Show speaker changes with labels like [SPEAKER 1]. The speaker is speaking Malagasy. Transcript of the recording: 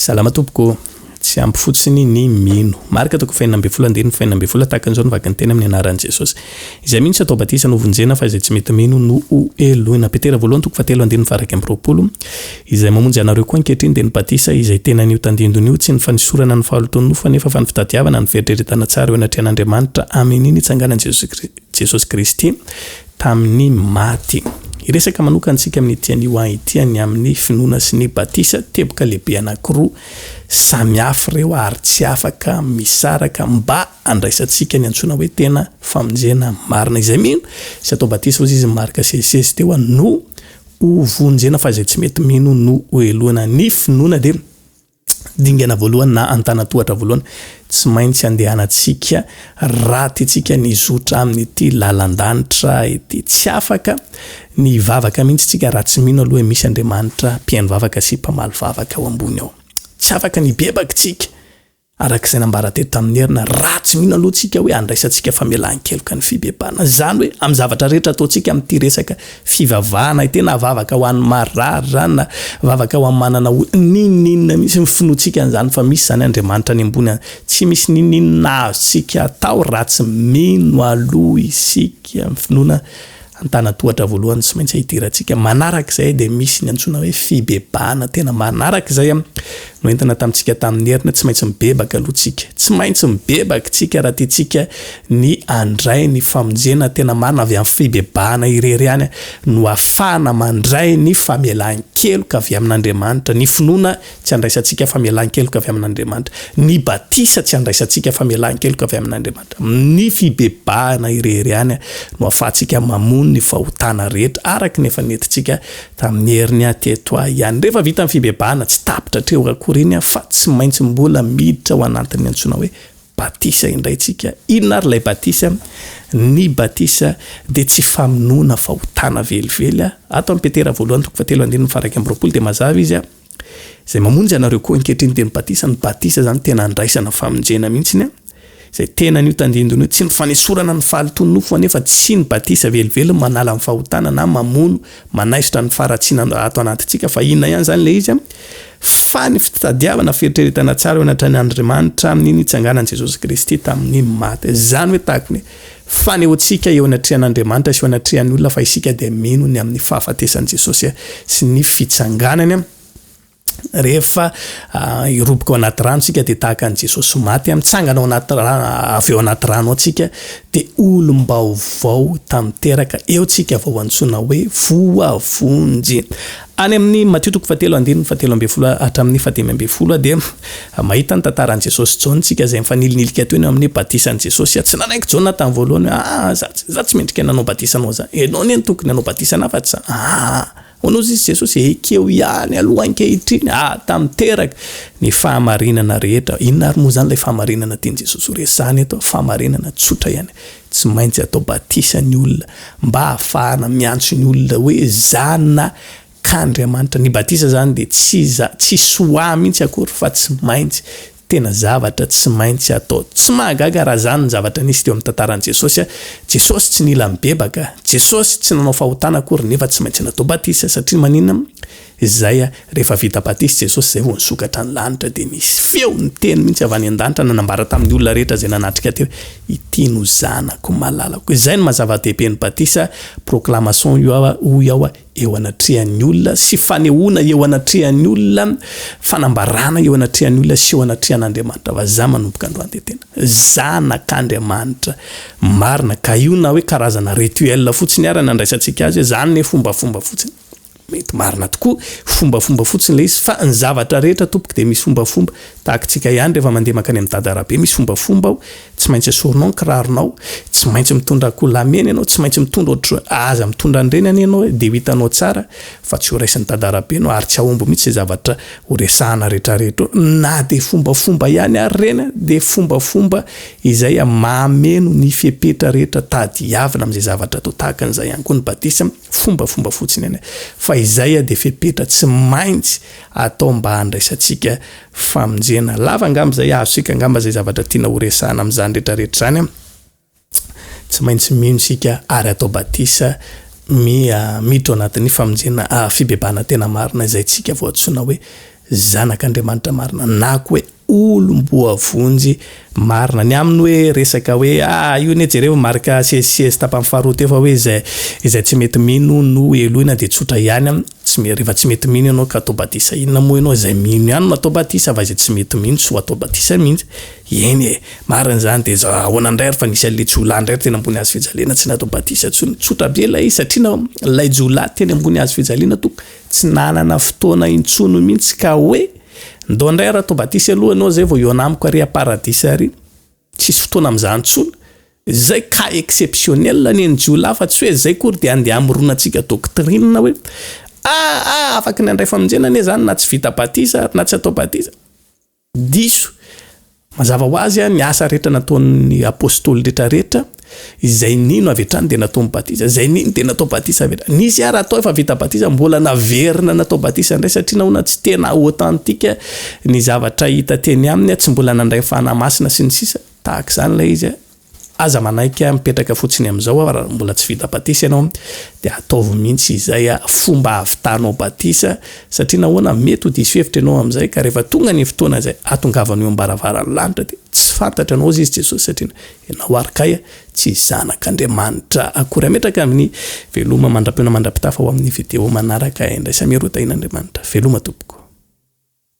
[SPEAKER 1] Salama tompoko. Tsy ampy fotsiny ny mino. Marc toko fahenina ambin'ny folo andininy fahenina ambin'ny folo, Tahaka an'izao no vaky ny teny amin'ny anaran'i Jesosy. Izay mino tsy atao batisa no vonjena fa izay tsy mety mino no hoheloina. Petera voalohany toko fahatelo andininy faharaika amby roapolo, Izay mamonjy anareo koa ankehitriny dia ny batisa izay tena an'io tandindony io, tsy ny fanesorana ny fahalotoan'ny nofo anefa fa ny fitadiavana ny fieritreretana tsara eo anatrehan'Andriamanitra amin'iny nitsanganan'i Jesosy Kristy. Jesosy Kristy tamin'ny maty. Hiresaka manokana isika amin'ity anio ahy ity ny amin'ny finoana sy ny batisa, teboka lehibe anankiroa samy hafa ireo ary tsy afaka misaraka mba handraisantsika ny antsoina hoe tena famonjena marina. Izay mino sy atao batisa hozy izy marika sesisesy teo no ho vonjena fa izay tsy mety mino no ho helohina. Ny finoana dia. Dingana voalohany na antanan-tohatra voalohany tsy maintsy andehanantsika raha tiantsika ny hizotra amin'ity lalan-danitra ity. Tsy afaka ny hivavaka mihitsy isika raha tsy mino aloha hoe misy Andriamanitra mpihaino vavaka sy mpamaly vavaka ao ambony ao. Tsy afaka ny hibebaka isika, araka izay nambara teto tamin'ny herina, raha tsy mino aloha isika hoe handraisantsika famelan-keloka ny fibebahana. Izany hoe amin'ny zavatra rehetra ataontsika amin'ity resaka Fivavahana e! Tena vavaka ho an'ny marary zany na vavaka ho an'ny manana olana. N'inon'inona mihitsy ny finoantsika an'izany fa misy izany Andriamanitra any ambony any. Tsy misy n'inon'inona azontsika atao raha tsy mino aloha isika. Ny finoana an-tanan-tohatra voalohany tsy maintsy hidirantsika. Manarak'izay dia misy ny antsoina hoe fibebahana tena manarak'izay. Noentina tamintsika tamin'ny heriny, tsy maintsy mibebaka aloha tsika. Tsy maintsy mibebaka tsika raha tiantsika ny handray ny famonjena tena marina avy amin'ny fibebahana irery ihany no afahana mandray ny famelan-keloka avy amin'Andriamanitra. Ny finoana tsy handraisantsika famelan-keloka avy amin'Andriamanitra. Ny batisa tsy handraisantsika famelan-keloka avy amin'Andriamanitra. Amin'ny fibebahana irery ihany no afahantsika mamono ny fahotana rehetra araka ny efa nentintsika Tamin'ny herin'ny ahy teto ahy ihany, rehefa vita ny fibebahana, tsy tapitra hatreo akory iny aho fa tsy maintsy mbola miditra ao anatin'ny antsoina hoe batisa indray isika. Inona ary ilay batisa? Ny batisa dia tsy famonoana fahotana velively. Ato amin'i Petera voalohany toko fahatelo andininy faha iraika amby roapolo dia mazava izy, Izay mamonjy anareo koa ankehitriny dia ny batisa, ny batisa izany tena andraisana famonjena mihitsiny an, izay tena an'io tandindona io, tsy ny fanesorana ny fahalotoan'ny nofo anefa, tsy ny batisa velively manala ny fahotana na mamono, manaisotra ny faharatsiana ato anatintsika fa inona ihany izany ilay izy an, fa ny fitadiavana fieritreretana tsara eo anatrehan'Andrimanitra amin'ny nitsanganan'i Jesosy Kristy tamin'ny maty, izany hoe tahaka ny hoe Fanehoantsika eo anatrehan'Andriamanitra sy eo anatrehan'ny olona fa isika dia mino ny amin'ny fahafatesan'i Jesosy sy ny fitsanganany. Rehefa hiroboka ao anaty rano isika dia tahaka an'i Jesosy maty, mitsangana ao anaty rano, avy ao anaty rano ao isika dia olom-baovao tamin'ny teraka, eo isika vao antsoina hoe voavonjy. Any amin'ny Matio toko fahatelo andininy fahatelo ambin'ny folo hatramin'ny fahadimy ambin'ny folo dia mahita ny tantaran'i Jesosy sy Jaona isika izay mifanilinilikay toy ny eo amin'ny batisan'i Jesosy. Tsy nanaiky Jaona tamin'ny voalohany hoe, Aa, izaho tsy, izaho tsy mendrika ny hanao batisa anao izany. Ianao anie no tokony hanao batisa an'ahy fa tsy izaho. Aa! Hono hozy izy Jesosy, ekeo ihany aloha ankehitriny aa, tanteraka ny fahamarinana rehetra. Inona ary moa izany ilay fahamarinana tian'i Jesosy horesahina eto? Fahamarinana tsotra ihany. Tsy maintsy atao batisa ny olona mba hahafahana miantso ny olona hoe zana k'Andriamanitra. Ny batisa zany dia tsy za, tsy soa mihitsy akory fa tsy maintsy, tena zavatra tsy maintsy atao. Tsy mahagaga raha zany ny zavatra nisy teo amin'ny tantaran'i Jesosy a! Jesosy tsy nila mibebaka, Jesosy tsy nanao fahotana akory nefa tsy maintsy natao batisa satria maninona? Izay rehefa vita batisa Jesosy izay vao nisokatra ny lanitra dia nisy feo niteny mihitsy avy any an-danitra nanambara tamin'ny olona rehetra izay nanatrika teo hoe ity no zanako malalako izay no maha-zava-dehibe ny batisa proclamation io aho hoy aho eo anatrehan'ny olona sy fanehoana eo anatrehan'ny olona fanambarana eo anatrehan'ny olona sy eo anatrehan'Andriamanitra fa za manomboka androany dia tena zanak'Andriamanitra marina ka io na hoe karazana rituel fotsiny ara nandraisantsika azy hoe zany ne fombafomba fotsiny Mety marina tokoa, fombafomba fotsiny ilay izy, fa ny zavatra rehetra tompoko dia misy fombafomba, tahaka tsika ihany rehefa mandeha mankany amin'ny dada arabe misy fombafomba ao, tsy maintsy esorinao ny kiraronao, tsy maintsy mitondra akoholahamena ianao, tsy maintsy mitondra ohatr, aza mitondra an'ireny anie ianao e, dia ho hitanao tsara fa tsy ho raisin'ny dada arabe ianao ary tsy hahomby mihitsy izay zavatra ho resahana rehetrarehetra eo, na dia fombafomba ihany ary ireny an, dia fombafomba izay mahmeno ny fepetra rehetra tadiavina amin'izay zavatra atao, tahaka an'izay ihany koa ny batisa, Fombafomba fotsiny anie fa izay dia fepetra tsy maintsy atao mba handraisantsika famonjena. Lava angamba izay, azontsika angamba izay zavatra tiana horesahana amin'izany rehetrarehetra izany. Tsy maintsy mino isika ary atao batisa miha miditra ao anatin'ny famonjena fibebahana tena marina izay tsika vao antsoina hoe zanak'Andriamanitra marina na koa hoe olom-boavonjy marina. Ny aminy hoe resaka hoe ah io anie jereo marc siesysiesy tapany faharoa teo fa hoe izay izay tsy mety mino no heloina dia tsotra ihany tsy me rehefa tsy mety mino ianao ka atao batisa inona moa ianao izay mino ihany no atao batisa fa izay tsy mety mino tsy ho atao batisa mihitsy eny e marina izany dia za ahoana indray ary fa nisy an'ilay jiolahy indray teny ambony hazofijaliana tsy natao batisa intsony tsotra be ilay izy satria na ilay jiolahy teny ambony hazofijaliana toa Tsy nanana fotoana intsony mihitsy ka hoe ndao indray ra tobatisy aloha ianao zay vao hiona amiko ary haparadisa ary tsisy fotoana amin'izany intsony. Izay cas exceptionnel ny an'i jiolahy fa tsy hoe izay akory dia andeha hamoronatsika doctrine hoe ah ah afaky ny handray famonjena anie izany na tsy vita batisa ary na tsy atao batisa. Diso. Mazava ho azy, ny asa rehetra nataon'ny Apôstôly rehetra rehetra, izay nino avy hatrany dia natao batisa, izay nino dia natao batisa avy hatrany. Nisy àry atao efa vita batisa, mbola naverina natao batisa indray, satria nahoana tsy tena authentique ny zavatra hita teny aminy, tsy mbola nandray ny Fanahy Masina sy ny sisa, tahaka izany ilay izy. Aza manaiky mipetraka fotsiny amin'izao aho raha mbola tsy vita batisa ianao dia ataovy mihitsy izay fomba havitanao batisa satria nahoana mety ho diso hevitra ianao amin'izay ka rehefa tonga ny fotoana izay hatongavanao eo am-baravaran'ny lanitra dia tsy fantatra anao izy Jesosy satria ianao ary kay tsy zanak'Andriamanitra akory Hametraka aminy Veloma mandra-peo na mandra-pitafa ho amin'ny video manaraka Indraisa miha Roa Tahian'Andriamanitra Veloma tompoko.